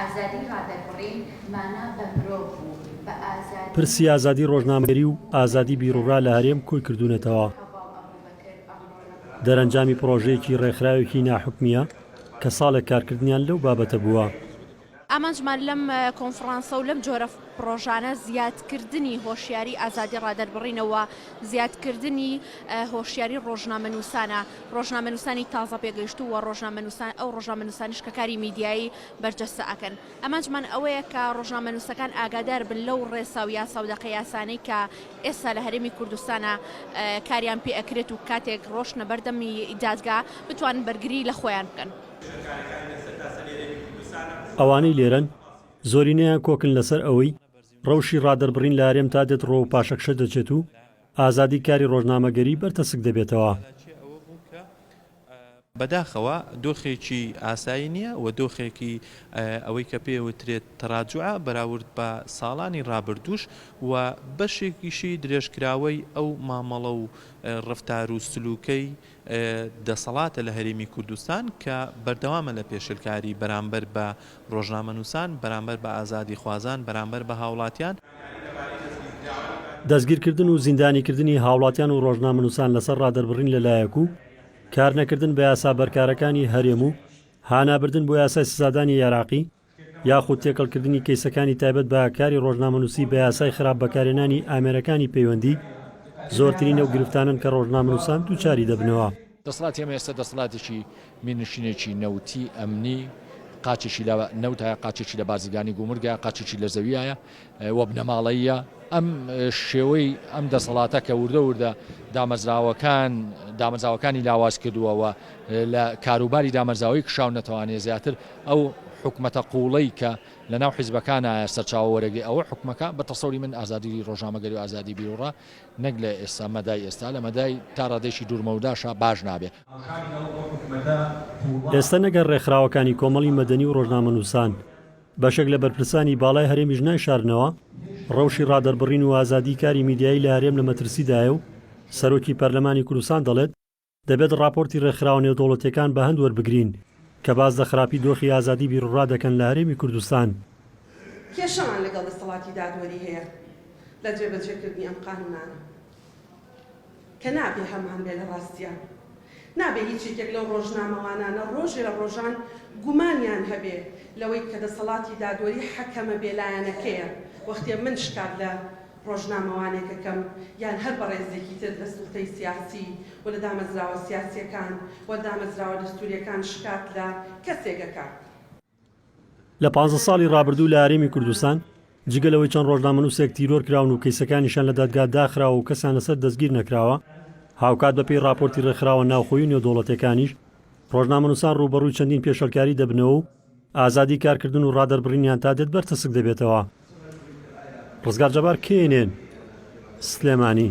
ئازادی ڕادەربڕین مانا بە مرۆڤ و بە ئازادی پرسی ئازادی ڕۆژنامەگەری و ئازادی بیروڕا لە هەرێم کۆی کردوونەتەوە. دەرەنجامی پڕۆژەیەکی ڕێکخراوێکی ناحکومییە کە ساڵێک کارکردنیان لەو بابەتە بووە. ئامانجمان لەم کۆنفڕانسە و لەم جۆرە پڕۆژانە زیادکردنی هۆشیاری ئازادی ڕادەربڕینە و زیادکردنی هۆشیاری ڕۆژنامەنووسانە. ڕۆژنامەنووسانی تازە پێگەیشتوو و ڕۆژنامەنووسان، ئەو ڕۆژنامەنووسانەش کە کاری میدیایی بەرجەستە ئەکەن. ئامانجمان ئەوەیە کە ڕۆژنامەنووسەکان ئاگادار بن لەو ڕێسا و یاسا و دەقە یاسانەی کە ئێستا لە هەرێمی کوردستانا کاریان پێ ئەکرێت و کاتێک ڕۆشتنە بەردەم دادگا بتوانن بەرگری لە خۆیان بکەن. ئەوانەی لێرەن زۆرینەیان کۆکن لەسەر ئەوەی ڕەوشی ڕادەربڕین لە هەرێمتا دێت ڕۆ و پاشەکشە دەچێت و، ئازادی کاری ڕۆژنامەگەری بەر تەسک دەبێتەوە. بەداخەوە دۆخێکی ئاسایی نییە و دۆخێکی ئەوەی کە پێ وترێت تەراجوعە بەراورد بە ساڵانی ڕابردووش و بەشێکیشی درێژکراوەی ئەو مامەڵە و ڕەفتار و سلووکەی دەسەڵاتە لە هەرێمی کوردستان کە بەردەوامە لە پێشێلکاری بەرامبەر بە ڕۆژنامەنووسان، بەرامبەر بە ئازادیخوازان، بەرامبەر بە هاوڵاتیان. دەستگیرکردن و زیندانیکردنی هاوڵاتیان و ڕۆژنامەنووسان لەسەر ڕادەربڕین لە لایەک و کارنەکردن بە یاسا بەرکارەکانی هەرێم و هانابردن بۆ یاسای سزادانی عێراقی، یاخود تێکەڵکردنی کەیسەکانی تایبەت بە کاری ڕۆژنامەنووسی بە یاسای خراپ بەکارهێنانی ئامێرەکانی پەیوەندی، زۆرترین ئەو گرفتانەن کە ڕۆژنامەنووسان دووچاری دەبنەوە. دەسەڵاتی ئەمە ئێستا دەسەڵاتێکی میرنشینێکی نەوتی، ئەمنی، قاچێکی لە نەوتایە، قاچێکی لە بازرگانی گومرگایە، قاچێکی لە زەویایە، و بنەماڵەییە، ئەم شێوەی ئەم دەسەڵاتە کە وردە وردە دامەزراوەکان دامەزراوەکانی لاواز کردووە و لە کاروباری دامەرزاوەی کشاو نەتوانێ زیاتر ئەو حکومەتە قوڵەی کە لە ناو حیزبەکانە سەرچاوە وەرەگری ئەوە حکومەکە بە تەسەوری من ئازادی ڕۆژنامەگەری و ئازادی بیروڕا نەک لە ئێستا مەدای ئێستا لە مەدای تا ڕادێکی دوورمەوداشە باش نابێ. ئێستا نەگەر ڕێکخراوەکانی کۆمەڵی مەدەنی و ڕۆژنامەنووسان، بەشێک لە بەرپرسانی باڵای هەرێمیش نایشارنەوە ڕەوشی ڕادەربڕین و ئازادیی کاری میدیایی لە هەرێم لە مەترسیدایە و سەرۆکی پەرلەمانی کوردستان دەڵێت، دەبێت ڕاپۆرتی ڕێکخراوە نێودەوڵەتییەکان بە هەند وەربگرین کە باس لە خراپی دۆخی ئازادیی بیروڕا دەکەن لە هەرێمی کوردستان. کێشەمان لەگەڵ دەسەڵاتی دادوەری هەیە لە جێبەجێکردنی ئەم قانوونانە. کە نابێ هەمان بێ لە ڕاستیا. نابێ هیچ یەکێک لەو ڕۆژنامەوانانە ڕۆژێ لە ڕۆژان گومانیان هەبێ لەوەی کە دەسەڵاتی دادوەری حەکەمە بێلایەنەکەیە، وەختێ من شکات لە ڕۆژنامەوانێک ئەکەم یان هەر بەڕێزێکی تر لە سوڵتەی سیاسی و لە دامەزراوە سیاسییەکان و دامەزراوە دەستوورییەکان شکات لە کەسێک ئەکا. لە پازدە ساڵی ڕابردوو لە هەرێمی کوردستان جگە لەوەی چەند ڕۆژنامەنووسێک تیرۆر کراون و کەیسەکانیشیان لە دادگا داخراوە و کەسیان لەسەر دەستگیر نەکراوە، هاوکات بەپێی ڕاپۆرتی ڕێکخراوە ناوخۆیی و نێودەوڵەتییەکانیش ڕۆژنامەنووسان ڕووبەڕووی چەندین پێشێلکاری دەبنەوە و ئازادی کارکردن و ڕادەربڕینیان تا دێت بەر تەسک دەبێتەوە. ڕزگار جەبار، knn، سلێمانی.